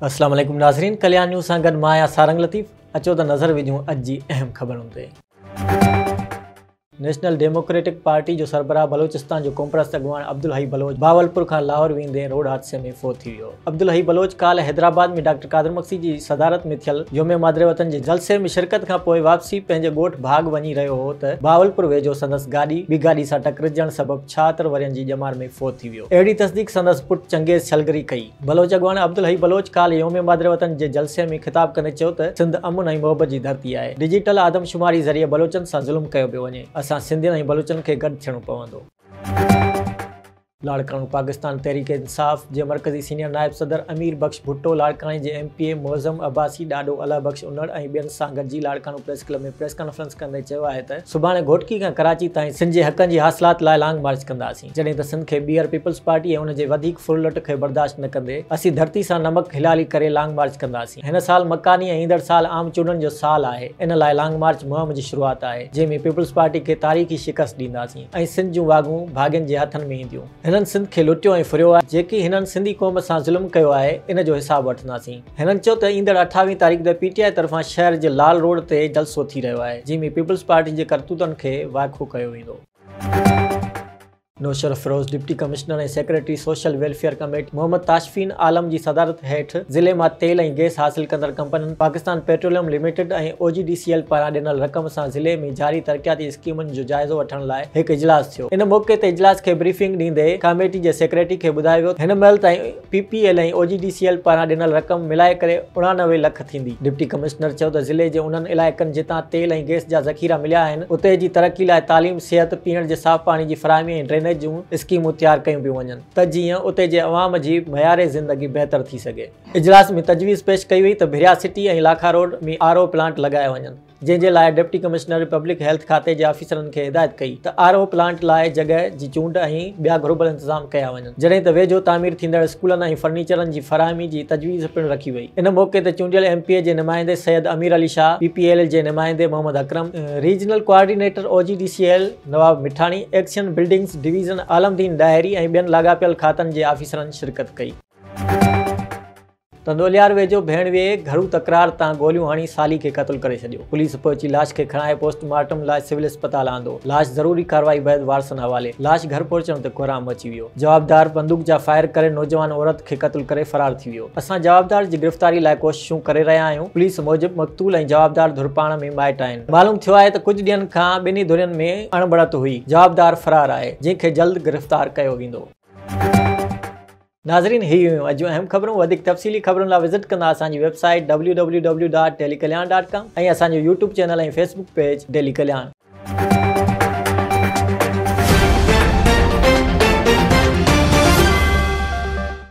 السلام عليڪم ناظرين ڪليان نيوز سان گڏ مان آهيان سارنگ لطيف اچو ته نظر وجهون اڄ جي اهم خبرن تي نيشنل ڊيموڪريٽڪ پارٽي جو سربراهه بلوچستان جو قومپرست اڳواڻ عبدالحئي بلوچ بهاولپور کان لاهور ويندي روڊ حادثي ۾ فوت ٿي ويو عبدالحئي بلوچ ڪالهه حيدرآباد ۾ ڊاڪٽر قادر مگسي جي صدارت ۾ ٿيل يوم مادر وطن جي جلسي ۾ شرڪت کان پوء واپسي پنهنجي ڳوٺ ڀاڳ وڃي رهيو هو ته بهاولپور ويجهو سندس گاڏي ٻي گاڏي سان ٽڪرجڻ سبب ڇهاتر ورهين جي ڄمار ۾ فوت ٿي ويو اهڙي تصديق سندس پٽ چنگيز ڇلگري ڪئي بلوچ اڳواڻ عبدالحئي بلوچ ڪالهه يوم مادر وطن جي جلسي ۾ خطاب ڪندي چيو ته سنڌ امن ۽ محبت جي ڌرتي آهي ڊجيٽل آدم شماري ذريعي بلوچن سان ظلم ڪيو پيو وڃي اسان سنڌين ۽ بلوچن کي گڏ ٿيڻو پوندو. لاڙڪاڻو، پاڪستان تحريڪ انصاف جي مرڪزي سينيئر نائب صدر امير بخش ڀٽو، لاڙڪاڻي جي M P A Moazzam Abbasi, Dado Allah Bakhsh Unar ۽ ٻين سان گڏجي Larkana press club ۾ press conference ڪندي چيو آهي ته سڀاڻي گهوٽڪي کان ڪراچي تائين سنڌ جي حقن جي حاصلات لاء لانگ مارچ ڪنداسين جڏهن ته سنڌ کي ٻيهر پيپلز پارٽي ۽ ان جي وڌيڪ ڦرلٽ کي برداشت نه ڪندي اسين ڌرتي سان نمڪ هلالي ڪري لانگ مارچ ڪنداسين هن سال مڪاني ۽ ايندڙ سال عام چونڊن جو سال آهي ان لاء لانگ مارچ مهم جي شروعات آهي جنهن ۾ پيپلز پارٽي کي تاريخي شڪست ڏينداسين. ۽ سنڌ جون واڳون ڀاڳين جي هٿن ۾ اينديون. هنن سنڌ کي لٽيو ۽ ڦريو آهي، جيڪي هنن سنڌي قوم سان ظلم ڪيو آهي، ان جو حساب وٺنداسين. هنن چيو ته ايندڙ اٺاويهه تاريخ تي پي ٽي آء طرفان شهر جي لال روڊ تي جلسو ٿي رهيو آهي، جنهن ۾ پيپلز پارٽي جي ڪرتوتن کي وائکو ڪيو ويندو. Naushahro Feroze deputy commissioner ۽ secretary social welfare committee Muhammad Tashfeen Alam جي صدارت هيٺ ضلعي مان تيل ۽ گئس حاصل ڪندڙ ڪمپنين Pakistan petroleum limited ۽ O G D C L پاران ڏنل رقم سان ضلعي ۾ جاري ترقياتي اسڪيمن جو جائزو وٺڻ لاء هڪ اجلاس ٿيو. ان موقعي تي اجلاس کي بريفنگ ڏيندي ڪاميٽي جي سيڪريٽري کي ٻڌايو ويو ته هن مهل تائين P P L ۽ O G D C L پاران ڏنل رقم ملائي ڪري اڻانوي لک ٿيندي. ڊپٽي ڪمشنر چيو ته ضلعي جي انهن علائقن جتان تيل ۽ گئس جا ذخيرا مليا آهن اتي جي ترقي لاء تعليم، صحت، پيئڻ جي صاف پاڻي جي فراهمي ۽ ڊرينيج جون اسڪيمون تيار ڪيون پيون وڃن ته جيئن اتي جي عوام جي معيار زندگي بهتر ٿي سگهي. اجلاس ۾ تجويز پيش ڪئي وئي ته Bhiria city ۽ Lakha road ۾ R O plant لڳايا وڃن. جنهن جي لاء ڊپٽي ڪمشنر پبلڪ هيلٿ کاتي جي آفيسرن کي هدايت ڪئي ته آر او پلانٽ لاء جڳهه جي چونڊ ۽ ٻيا گهربل انتظام ڪيا وڃن جڏهن ته ويجهو تعمير ٿيندڙ اسڪولن ۽ فرنيچرن جي فراهمي جي تجويز پڻ رکي وئي ان موقعي تي چونڊيل ايم پي اي جي نمائندي Syed Amir Ali Shah P P L L جي نمائندي Muhammad Akram regional coordinator O G D C L Nawab Mithani XEN buildings division Alamdin Dahri ۽ ٻين لاڳاپيل کاتن جي آفيسرن شرڪت ڪئي. تندوليار ويجهو ڀيڻ ويئي گهرو تڪرار تان گوليون هڻي سالي کي قتل ڪري ڇڏيو، پوليس پهچي لاش کي کڻائي پوسٽ مارٽم لاء سول اسپتال آندو، لاش ضروري ڪارروائي بعد وارثن حوالي، لاش گهر پهچڻ تي ڪوهرام مچي ويو، جوابدار بندوق جا فائر ڪري نوجوان عورت کي قتل ڪري فرار ٿي ويو، اسان جوابدار جي گرفتاري لاء ڪوششون ڪري رهيا آهيون، پوليس موجب مقتول ۽ جوابدار ڌر پاڻ ۾ مائٽ آهن، معلوم ٿيو آهي ته ڪجهه ڏينهن کان ٻنهي ڌرين ۾ اڻبڻت هئي، جوابدار فرار آهي، جنهن کي جلد گرفتار ڪيو ويندو. ناظرين هي هيون اڄ جون اهم خبرون وڌيڪ تفصيلي خبرن لا وزٽ ڪندا اسان جي website W W W dot daily Kalyan dot com ۽ اسان جو YouTube channel ۽ Facebook page daily Kalyan.